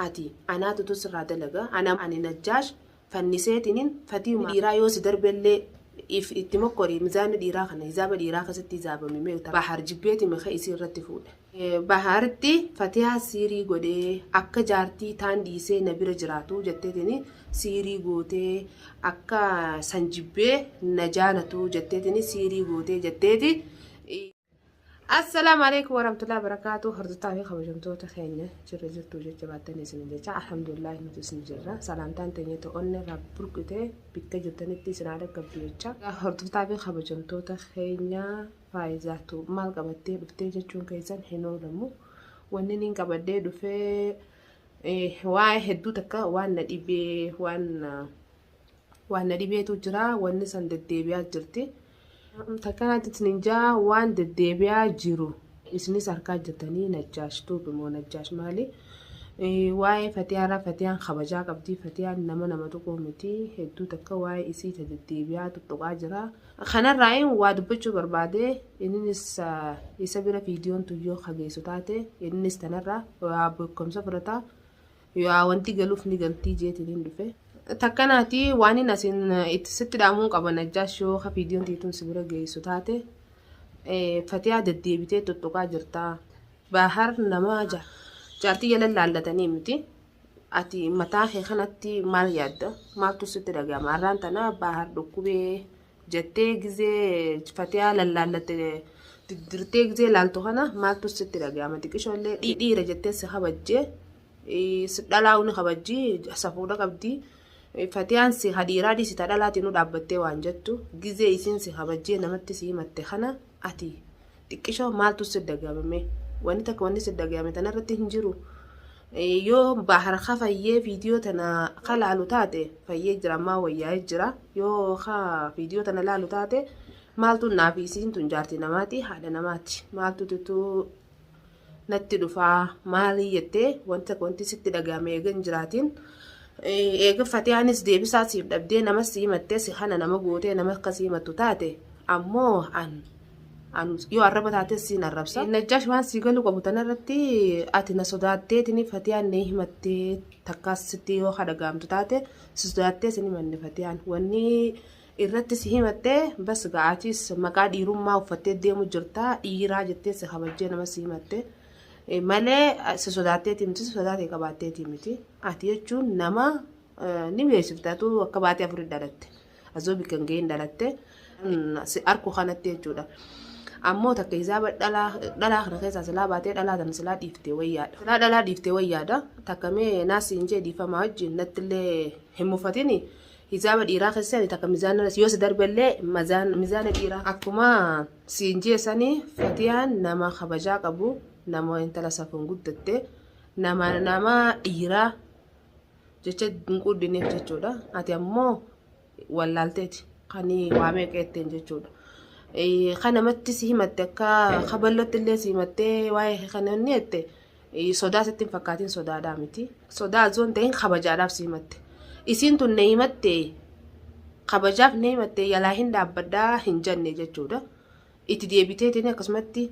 ati anaa tutuu sirraa dalaga ana ani najjaash fanniseetinin fatiuma dhiiraa yoo si darbellee if itti mokkori mizaanni dhiiraa kana hizaaba dhiiraa keessatti hizaabami mee uta bahar jibbeeti maka isii irratti fuudhe bahartti fatiyaa siirii godhee akka jaartii taan dhiisee na bira jiraatu jetteetini siirii gootee akka san jibbee na jaalatu jetteetini siirii gootee jetteeti Assalaamu alaikum warahmatullahi wabarakatuh hordoftoota fi kabajamtoota keenya jirra jirtu jecha baattan isin jecha alhamdulillah nuti isin jirra salaamtaan teenya to'onne irraa burqite bikka jirtanitti isin haala qabdu jecha hordoftoota fi kabajamtoota keenya faayizaatu maal qabattee dhuftee jechuun keessan hin oolamu wanni niin qabadhee dhufee waa'ee hedduu takka waan na dhibee waan waan na dhibeetu jira wanni san deddeebi'aa jirti takkanaatti isinin jaa waan deddeebi'aa jiru isinis harkaa jirtanii najjaash tuubi moo najjaash maali waa'ee fatiyaaraa fatiyaan kabajaa qabdii fatiyaan nama nama tuquu miti hedduu takka waa'ee isii ta deddeebi'aa tuttuqaa jira kanarraa waa dubbachuu barbaade innis isa bira viidiyoon tuyyoo kageessu taate innis tanarraa waa beekumsa fudhataa Yaa wanti galuuf ni galtii jeetiniin dhufe. Takkanaati waanin asin itti sitti dhaamuun qaba najjaash yoo ka viidiyoon tiituun si bira geessu taate fatiyaa deddeebitee tuttuqaa jirtaa. Baahar nama ja jaartii jala laallatanii miti. Ati mataa kee kanatti maal yaadda? Maaltu sitti dhaga'ama? Har'aan tana baahar dhukkubee jettee gizee fatiyaa lallaallatte diddirtee gizee laaltu kana maaltu sitti dhaga'ama xiqishoo illee dhiidhiira jettee si kabajjee si dhalaa uni kabajji safuudha qabdi fatiyaan si hadhiiraa dhiisi ta dhalaatiin nu dhaabbattee waan jettu gizee isiin si kabajjee namatti si himatte kana ati Xiqqishoo maaltu si dagayame? Wanni takka wanni si dagayame tanarratti hin jiru. Eh, Yoo bahar ka fayyee viidiyoo tana ka laalu taate fayyee jira ammaa wayyaa'ee jira. Yoo ka viidiyoo tana laalu taate maaltu naaf isiin tun jaartii namaati haadha namaati maaltu tutuu natti dhufa maali jettee wanta wanti sitti dhaga'ame eega hin jiraatiin eega fatiyaanis deebisaa siif dhabdee nama si himattee si kana nama gootee nama akka si himattu taate ammoo an an yoo arraba taatee siin arrabsa najjaash waan sii galuu qabu tanarratti ati na sodaatteetini fatiyaan na himattee takkaas sitti yoo dhaga'amtu taate si sodaattee sin himanne fatiyaan wanni irratti si himattee bas gaa atis maqaa dhiirummaa uffattee deemu jirta dhiiraa jettee si kabajjee nama si himatte Eh, malee ah, si sodaatteeti miti si sodaatee qabaatteeti miti ati jechuun nama eh, ni beeksifta tu akka baatee afurii dhalatte azoo bikka hin ga'iin dhalatte Mm, si arku kanatti jechuudha ammoo takka hisaaba dhalaa dhalaa kana keessaa silaa baatee dhalaa tana silaa dhiiftee wayyaadha silaa dhalaa dhiiftee wayyaadha takka mee naasi hin jee dhiifamaa wajjin nattillee hin mufatini Hijaaba dhiiraa keessaa ni takka mizaana yoo si darbe illee mizaana dhiiraa. Akkuma siin jee sanii fatiyaan nama kabajaa qabu nama intala safuun guddatte nama nama dhiiraa jecha hin quuddineef jechuudha. Ati ammoo wallaalteeti kan waa meeqeetteen jechuudha. Kan namatti si himatte akka kaballootti illee si himattee waa'ee kan inni jette Sodaa sitti hin fakkaatin sodaadhaa miti. Sodaa osoo hin ta'in kabajaadhaaf si himatte. Isiin tun na himatte kabajaaf na himatte yalaa hin dhaabbadhaa hin janne jechuudha. Itti deebiteetiin akkasumatti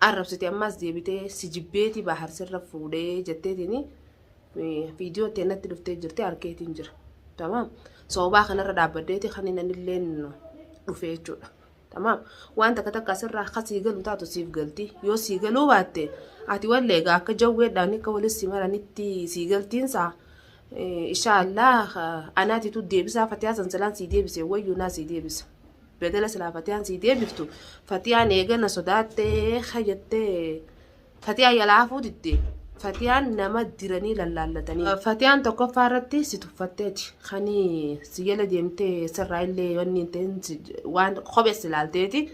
arrabsite ammaas deebitee si jibbeeti baahar sirra fuudhee jetteetiin viidiyoo ta'e natti dhuftee jirti harkeetiin jira. Tamaam. Soobaa kanarra dhaabbadeeti kan inni illee dhufee jechuudha. Tamaam. Waan takka takka asirraa akka sii galu taatu siif galti. Yoo sii galuu baatte ati wallee egaa akka jawweedhaan akka waliin si maranitti sii galtiinsa. Inshaallah anaatitu deebisaa fatiyaa sansalaan sii deebisee wayyuu naa sii deebisa. Bedela silaa fatiyaan sii deebiftu fatiyaan eegana sodaattee hayyattee Fatiyaa yalaa hafuu didde. Fatiyaan nama diranii lallaallatanii. Fatiyaan tokkoffaa irratti si tuffattee achi. Kani si jala deemtee sirraa illee wanni hin ta'in si- waan kophee si laalteeti.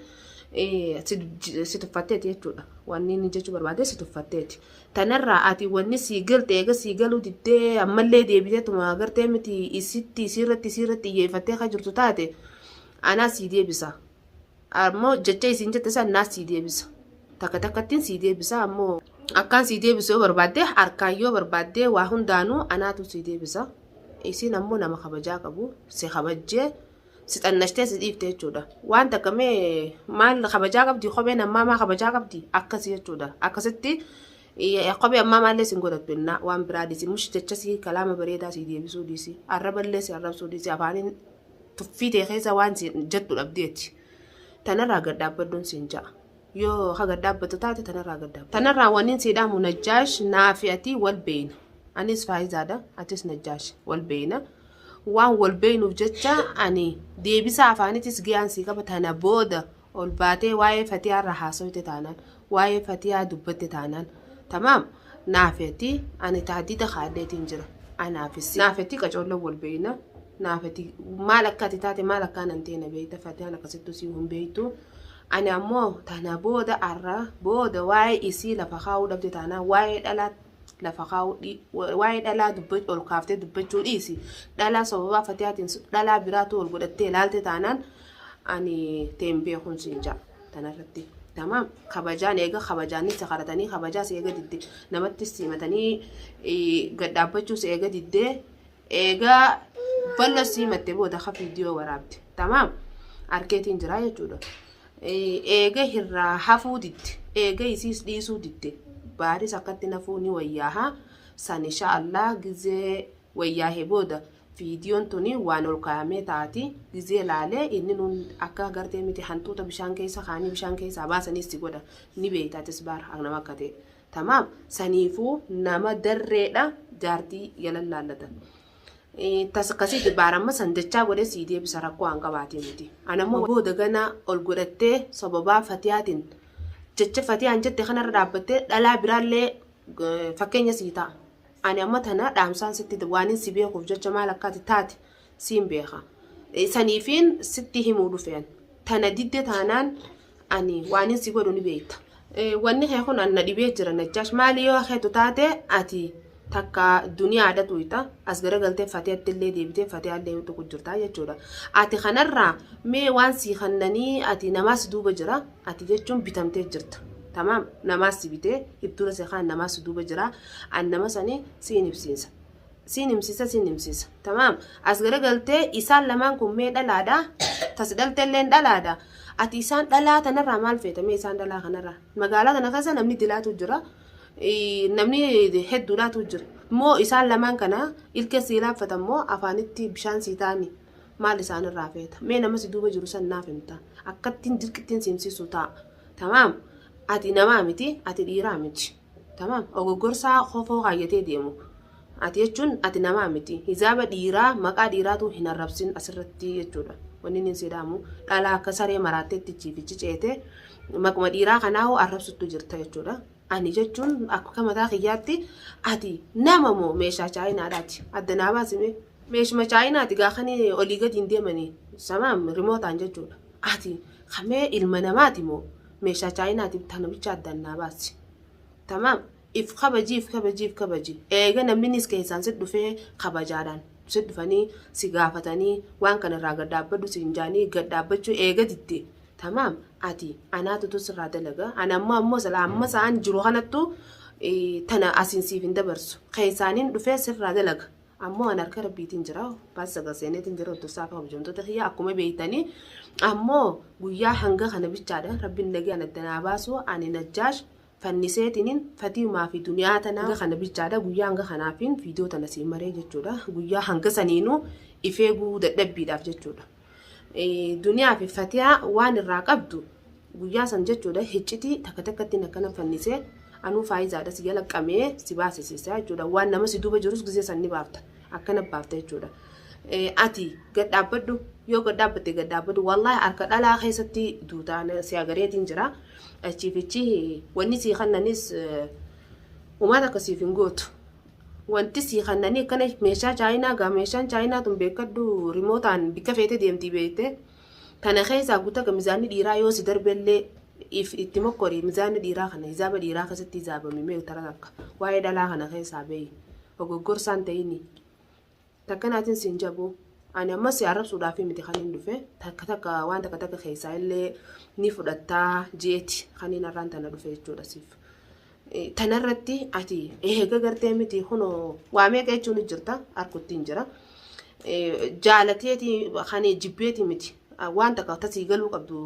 eh, Si j- si tuffatteeti jechuudha. Wanni inni jechuu barbaade si tuffatteeti. Tanarraa ati wanni sii galte eega sii galuu diddee ammallee deebiteetuma gartee miti isitti isiirratti isiirratti iyyeeffattee kan jirtu taate anaa sii deebisa. ammoo jecha isiin jette san naas sii deebisa takka takkattiin sii deebisa ammoo akkaan sii deebisu yoo barbaadde harkaan yoo barbaadde waa hundaanuu anaatu sii deebisa isiin ammoo nama kabajaa qabu si kabajjee si xannashtee si dhiifte jechuudha waan takka mee maal kabajaa qabdi kopheen ammaa maa kabajaa qabdi akkasi jechuudha akkasitti eh, kophee ammaa maallee sin godhattu innaa waan biraa dhiisi mush jecha sii kalaama bareedaa sii deebisuu dhiisi arraballee si arrabsuu dhiisi afaaniin tuffii tee keessa waan siin jettu dhabdee ati. Tanarraa gad dhaabbadduun siin ja'a. Yoo ka gad dhaabbattu taate tanarraa gad dhaabbadhu. Tanarraa wanniin sii dhaamu Najjaash naa fi ati wal beeyna. Anis Faayizaadha, atis Najjaash wal beeyna. Waan wal beeynuuf jecha ani deebisaa afaanitis giyaan sii qaba tana booda ol baatee waa'ee fatiyaa irraa haasoyte taanaan waa'ee fatiyaa dubbatte taanaan tamaam naafi ati ani tahdida kaadheetiin jira anaafis naafi ati qacoolloon wal beeyna naafi ati maal akka ati taate maal akka anan ta'e na beeyta fatiyaan akkasittuu sii hin beeytu ani ammoo tana booda arra booda waa'ee isii lafa kaa'uu dhabde taanaan waa'ee dhalaa lafa kaa'uu dhi- wa- waa'ee dhalaa dubba ol kaaftee dubbachuu dhiisi dhalaa sababaa fatiyaatiin dhalaa biraatu ol godhattee ilaalte taanaan ani teen beekun siin ja'a tanarratti tamaam kabajaan eega kabajaanis sakaratanii kabajaas eega didde namattis simatanii gad dhaabbachuus eega didde eega ballo simatte booda ka viidiyoo waraabde tamaam arkeetiin jiraa jechuudha eega irraa hafuu didde eega isiis dhiisuu didde baaris akkatti nafuu ni wayyaaha san insha allah gizee wayyaahee booda Viidiyoon tuni waan ol kaayamee taati gizee laale inni nuun akka agartee miti hantuuta bishaan keessa kaanii bishaan keessaa baasaniis si godha ni beeyta atis baar nama akka ta'e tamaam saniifuu nama darreedha jaartii yalan laallatan tas akkasiiti baar amma san dachaa godhee sii deebisa rakkoo aan qabaatee miti anammoo booda ganaa ol godhattee sababaa fatiyaatiin jecha fatiyaan jette kanarra dhaabbattee dhalaa biraallee fakkeenya sii ta'a. Ani amma tana dhaamsaan sitti waanin si beekuuf jecha maal akka ati taate siin beeka. Saniifiin sitti himuu dhufe an. Tana didde taanaan ani waanin si godhu ni beekta. Wanni kee kun an na dhibee jira Najjaash maali yoo keetu taate ati takka duniyaadha tuyxa as garagaltee fatiyatti illee deebitee fatiyaa illee yoo tuqu jirta jechuudha. Ati kanarraa mee waan sii kannanii ati namaa si duuba jira ati jechuun bitamtee jirta. Tamaam namaa si bitee ibtuura seekaan namaa si duuba jira. An nama sani siin himsiisa. Siin himsiisa siin himsiisa. Tamaam. As garagaltee isaan lamaan kun mee dhalaadha. Tas dhalteelleen dhalaadha. Ati isaan dhalaa tanarraa maal feeta mee isaan dhalaa kanarraa. Magaalaa tana keessa namni dilaatu jira. Ii, Namni hedduudhaatu jira. Moo isaan lamaan kana ilkee sii laaffatan moo afaanitti bishaan sii taa'ani. Maal isaanirraa feeta. Mee nama si duuba jiru san naaf himta. Akkattiin dirqittiin si himsiisu ta'a. Tamaam. Ati namaa miti. Ati dhiiraa miti. Tamaam ogoggorsaa kofoo kaayyatee deemu ati jechuun ati namaa miti hijaaba dhiiraa maqaa dhiiraatuu hin arrabsin asirratti jechuudha wanni inni hin siidaamu dhalaa akka saree maraatteetti chiifichi ceete maquma dhiiraa kanaa hoo arrabsuttu jirta jechuudha ani jechuun akka mataa kiyyaatti ati nama moo meeshaa chaayinaadhaati adda naa baasime meeshuma chaayinaati gaakanii olii gadi hin deemanii samaam rimootaan jechuudha ati kamee ilma namaati moo meeshaa chaayinaati bittaa namicha addaan naa baasi. Tamaam if kabajii if kabajii if kabajii eega namninis keessaan si dhufee kabajaadhaan si dhufanii si gaafatanii waan kana irraa gad dhaabbadhu siin jaanii gad dhaabbachuu eega didde tamaam ati anaatu tun sirraa dalaga ana ammoo ammoo sila amma sa'aan jiru kanattu tana asiin siif hin dabarsu keessaaniin dhufee sirraa dalaga. ammoo an harka rabbiitiin jira baas sagal seeneetiin jira hordofsaa fi kabajamtoota kiyya akkuma beeytanii ammoo guyyaa hanga kana bichaadha rabbiin nagaan adda naa baasu ani najjaash fanniseetiniin fatiimaa fi duniyaa tanaa hanga kana bichaadha guyyaa hanga kanaafiin viidiyoo tana siin maree jechuudha guyyaa hanga saniinuu ifeeguu dadhabbiidhaaf jechuudha. Duniyaa fi Fatiyaa waan irraa qabdu guyyaa san jechuudha hiccitii takka takkatti akkana fannisee anuu faayizaadha si jala qabee si baasisiisaa jechuudha waan nama si duuba jirus gisee san ni baafta akkana baafta jechuudha. Ati gad dhaabbadhu yoo gad dhaabbatte gad dhaabbadhu wallaahi harka dhalaa keessatti duutaa si agareetiin jira achiifichi wanni sii kannanis umaata akkasiif hin gootu Wanti sii kannanii akkana meeshaa chaayinaa gaa meeshaan chaayinaa tun beekkadhu rimootaan bikka feete deemtii beekte tana keessaa gutaga mizaanni dhiiraa yoo si darbellee if itti mokkori mizaanni dhiiraa kana hizaaba dhiiraa keessatti hizaabame mee utara takka waa'ee dhalaa kana keessaa beeyi ogoggorsaan ta'ini Takka naatin siin jabu ani amma si arrabsuudhaaf miti kanin dhufe takka takka waan takka takka keessaa illee ni fudhattaa jeeti kanin har'aan tana dhufe jechuudha siif. Tanarratti ati eega gartee miti kunoo waa meeqa jechuun jirta harkuttiin jira. Jaalateeti kan jibbeeti miti waan takka tasii galuu qabdu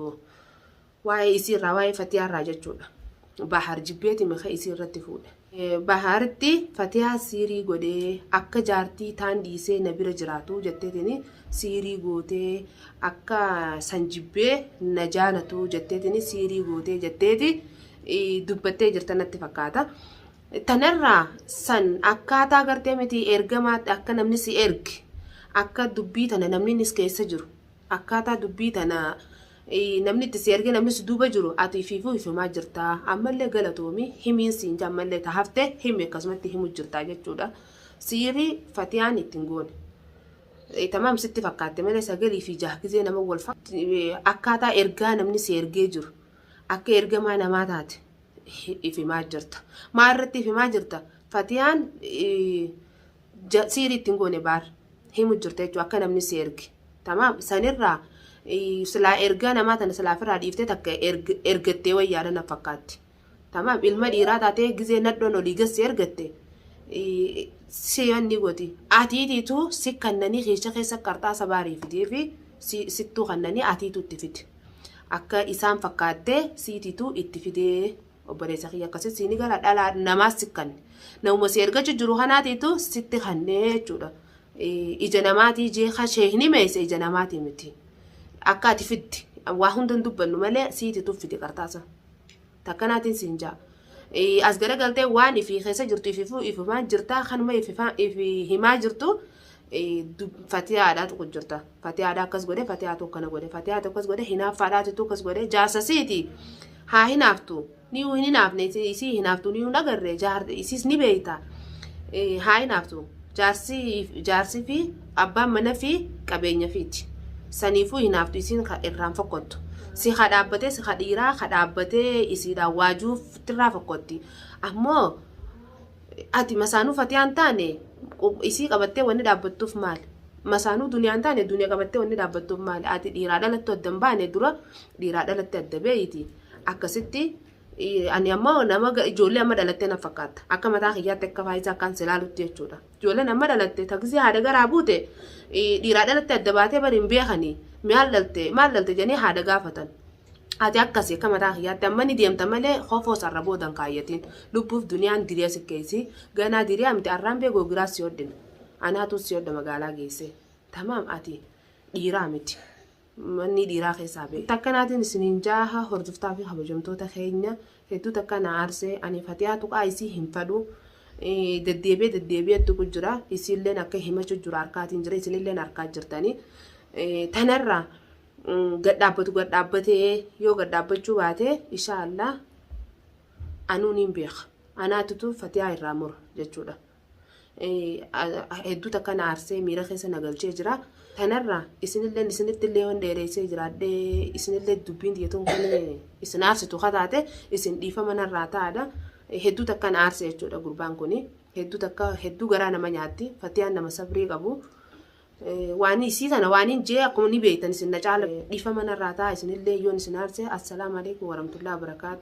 Waa'ee isii irraa waa'ee fatiyaa irraa jechuudha. Bahaar jibbeeti mika isii irratti fuudhe. Bahaaritti fatiyaa siirii godhee akka jaartii taan dhiisee na bira jiraatu jetteetini siirii gootee akka san jibbee na jaalatu jetteetini siirii gootee jetteeti dubbattee jirta natti fakkaata. Tanarraa san akkaataa gartee miti ergamaatti akka namni si erge akka dubbii tana namni keessa jiru Akkaataa dubbii tana namni itti si ergee namni si duuba jiru ati ifiifuu hifimaa jirta ammallee galatoomi himiin siin jaa ammallee ta hafte himi akkasumatti himu jirta jechuudha siiri fatiyaan ittiin goone. Tamaam sitti fakkaatte malee sagalii fi jaha gizee nama wal akkaataa ergaa namni si ergee jiru akka ergamaa namaa taate ifimaa jirta. Maa irratti ifimaa jirta? Fatiyaan ja siirii ittiin goone baar himu jirta jechuudha akka namni si erge tamaam sanirraa eh, silaa ergaa namaa tana silaa ofirraa dhiiftee takka erg- ergattee wayyaadha na fakkaatti tamaam ilma dhiiraa taatee gizee nadhoon olii gassi ergatte eh, si yanni goti atiitiitu si kannanii keessa keessa qarxaasa baarii fidee fi si sittuu kannanii atiitu itti fide akka isaan fakkaattee siitiitu itti fidee obboleessa kiyya akkasii si ni gara dhalaa namaas si kanne namuma si ergachu jiru kanaatiitu sitti kannee jechuudha ija namaatii jee kashee hin himeesse ija namaatii miti akka ati fitti waa hundan dubbannu malee siiti tuffite qartaasa takkanaatiin siin jaa as garagaltee waan ifii keessa jirtu ififuu ifimaa jirtaa kanuma ifi himaa jirtu fatiyaadhaa tokko jirta fatiyaadhaa akkas godhe fatiyaatu akkana godhe fatiyaatu akkas godhe hinaaffaadhaatitu akkas godhe jaarsasiiti haa hinaaftu niyuu hin hinaafne isii hinaaftu niyuu hin agarre isiis ni beeyta haa hinaaftu jaarsi fi abbaan mana fi qabeenya fiiti saniifuu hinaaftu isiin irraan fokkottu si ha dhaabbatee si ha dhiiraa ha dhaabbatee isiidhaan waajuuf tirraa fokkotti ammoo Ati masaanuu fatiyaa hin taane isii qabattee wanni dhaabbattuuf maali? Masaanuu duniyaa hin taane duniya qabattee wanni dhaabbattuuf maali? Ati dhiiraa dhalattu adda hin baane dura dhiiraa dhalatte adda beeyti. Akkasitti ani amma nama ijoollee amma dhalattee na fakkaatta. Akka mataa kiyyaatti akka faayisaa akkaan si ilaalutti jechuudha. Ijoolleen amma dhalatte taksii haadha garaa buute dhiiraa dhalatte adda baatee bari hin beekanii maal dhalte maal dhalte jedhanii haadha gaafatan. Ati akkasi akka mataa kiyyaatti amma ni deemta malee kofoo sarra booda hin kaayyatiin. Lubbuuf duniyaan diree si keeysi. Ganaa diree amti arraan bee googiraa si hodhina. Anaatu si hodha magaalaa geessee. Tamaam ati dhiiraa miti. Mannii dhiiraa keessaa bee. Takkanaatiin isiniin jaaha hordoftaa fi kabajamtoota keenya hedduu takka na aarsee ani fatiyaa tuqaa isii hin fadhu. Deddeebi'ee deddeebi'ee tuqu jira. Isiilleen akka himachuu jira harkaatiin jira. Isinilleen harkaa jirtanii. Tanarraa gad dhaabbatu gad dhaabbatee yoo gad dhaabbachuu baate ishaa allaa anuu niin beeka anaatutu fatiyaa irraa mura jechuudha. Hedduu takka na aarsee miira keessa na galchee jira. Tanarraa isinillee isinitti illee waan dheereessee jiraadhee isinillee dubbiin diyyatuun kan isin aarsitu kataate isin dhiifama narraa taa'adha. Hedduu takka na aarse jechuudha gurbaan kun. Hedduu takka hedduu garaa nama nyaatti fatiyaan nama sabrii qabu. Waanii isii tana waaniin jee akkuma ni beeytan isin na caala dhiifama narraa ta'a isinillee yoon isin aarse Assalaamu Aleeykum Waramatullaah Wabarakaatu.